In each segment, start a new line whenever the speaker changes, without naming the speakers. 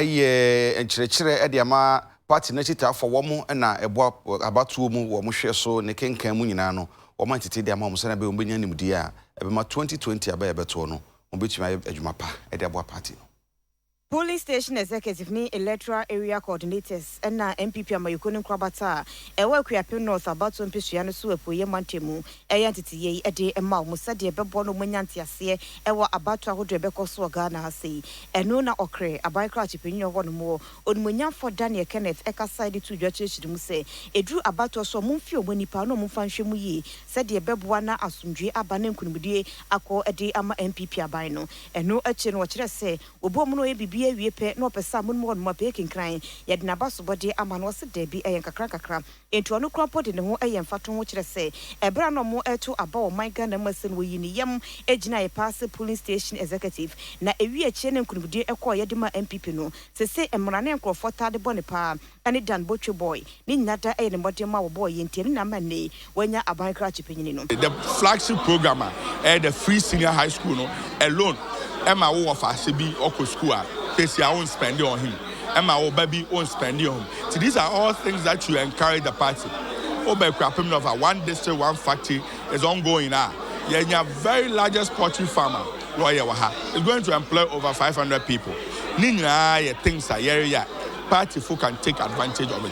yɛ nkyerɛkyerɛ de ama party no akyitaafoɔ a wɔn na ɛboa abatoɔ mu wɔ wɔn hwɛ so ne kenkan mu nyinaa no, wɔn ayɛ tete de ama wɔn sɛnea ɛbɛyɛ wɔn bɛnya nimdeɛ a ɛbɛma 2020 aba a ɛbɛtoɔ no wɔn bɛtumi ayɛ adwuma pa de aboa party no. Polling Station
Executive ne Electoral Area Coordinators na NPP Amanyɔkuo no nkorabata a ɛwɔ Akuapem North abatoɔ mpesua no so apueɛ mantam mu Ɛyɛ nteteyɛ yi de ma wɔn sɛdeɛ ɛbɛboa na wɔanya nteaseɛ wɔ abatoɔ ahodoɔ a ɛbɛkɔ so wɔ Ghana ha sei. Ɛno na ɔkre aban krakye panin a ɔwɔ hɔ nom hɔ, Onimuonyamfoɔ Daniel Kenneth kasaeɛ de too dwa kyerɛkyerɛ mu sɛ, ɛduru abatoɔ so a wɔmfie wɔn nnipa na wɔmfa nhwɛ mu yie sɛdeɛ ɛbɛboa na asomdwoeɛ aba na nkunimdie akɔ de ama NPP aban no. Ɛno akyire no ɔkyerɛɛ sɛ wɔbɔɔ mu na wɔyɛ biribiara wie pɛ na ɔpɛ sɛ amonom hɔ nom a pɛ yɛkenkran, yɛde n'abasobɔdeɛ ama no, ɔse daabi ɛyɛ nkakrankakra. Enti ɔno koraa mpo de ne ho yɛ mfatoho kyerɛ sɛ ɛberɛ a na ɔmo reto aba wɔ ɔman Ghana mu ɛsɛ no wɔyii ne yam gyinaeɛ paa sɛ polling station executive na ɛwie akyire ne nkonimdie ɛkɔɔeɛ de maa NPP no. Sesei mmara ne nkorɔfoɔ taa de bɔ ne paa ɛne Dan Botwe Boy ne nyinaa daa ɛyɛ ne mmɔdemma a wɔbɔɔ yɛn nti ɛno na ama nnɛ yi wanya aban krakye panyini no. The flagship
program a ɛyɛ the free senior high school no alone ɛma wo wɔ fahyɛ bi ɔkɔ school a kɛsi a wo nspɛnde ɔhen. ma wo ba bi on spending on ti these are all things that you encourage the party wo ba kura pem of a one district one factory is ongoing a yɛnya very largest poultry farm a wɔyɛ wɔ ha is going to employ over 500 people ne nyinaa yɛ things a yɛreyɛ a party fo can take advantage of it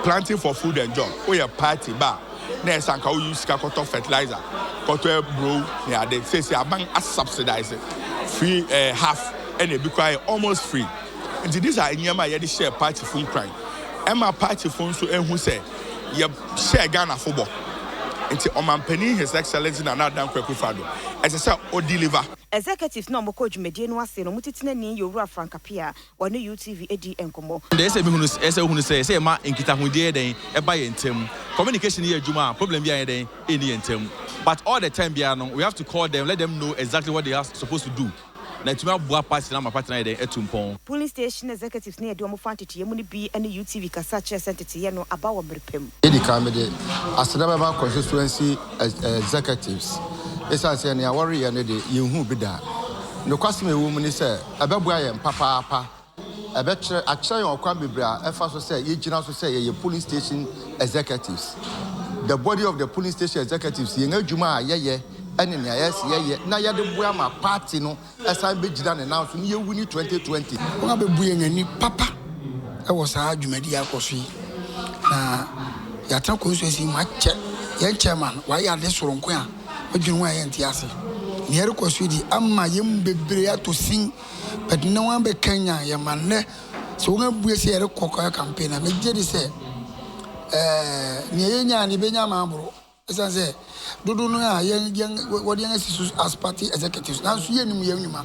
planting for food and job woyɛ party ba a na ɛsɛ anka woyi sika kɔtɔ fertilizer kɔtɔ aburo ne ade sɛsi aban asubsidize free eh, half ɛna ebi koraa yɛ almost free Nti these are nneɛma a yɛde hyɛɛ partyfo nkuran. Ɛma partyfo nso hu sɛ yɛhyɛɛ Ghanafo bɔ. Nti Ɔmanpanin His Excellency Nana Addo Dankwa Akufo-Addo, ɛsɛ sɛ o deliver. Executives na wɔkɔɔ
dwumadie no ase no, mo Titenani yɛ Owura Frank Appiah a wɔne UTV di nkɔmmɔ. Nea ɛsɛ sɛ mehunu, ɛsɛ sɛ
wohunu sɛ ɛsɛ sɛ yɛma nkitahodie yɛ dɛn, ɛba yɛn ntam. Communication yɛ adwuma a, problem biara nyɛ dɛn, ɛnni yɛn ntam. But all the time biara no, we have to call them, let them know exactly what they are supposed to do. Na atumi aboa party no ama party no ayɛ dɛn? Atu mpɔn. Polling station
executives no a yɛde wɔn fa nteteyɛ mu no bi ne UTV kasa kyerɛɛ sɛ nteteyɛ no aba wɔ mmere pa mu. Edi kan mede
aseda bɛma constituency executives esiane sɛ nea wɔreyɛ no de, yenhuu bi da. Nokwasɛm a ɛwom ne sɛ, ɛbɛboa yɛn papaapa Ɛbɛkyerɛ, akyerɛ yɛn ɔkwan bebree a ɛfa so sɛ yegyina so sɛ yɛyɛ polling station executives. The body of the polling station executives, yɛn adwuma a yɛyɛ ne nea yɛse yɛyɛ na yɛde boa ma party no san begyina ne nan so na yɛwini 2020. Wɔabebu yɛn
ani papa wɔ saa dwumadi a ɛkɔ so yi, na yɛatena constituency yi mu akyɛ. Yɛn chairman, wayɛ ade soronko a odwen ho a yɛnte ase. Nea ɛrekɔ so yi de, ama yɛn mu bebree atɔ sin. But na wɔabɛkanyan yɛn ma nnɛ sɛ wɔabue sɛ yɛrekɔ kɔyɛ campaign a, megye di sɛ ɛɛ nea yɛnyae no yɛbɛnya ama aboro. Ɛsiane sɛ dodow no ara yɛn yɛn wɔde yɛn asi so as party executives nanso yɛnnim yɛn nnwuma.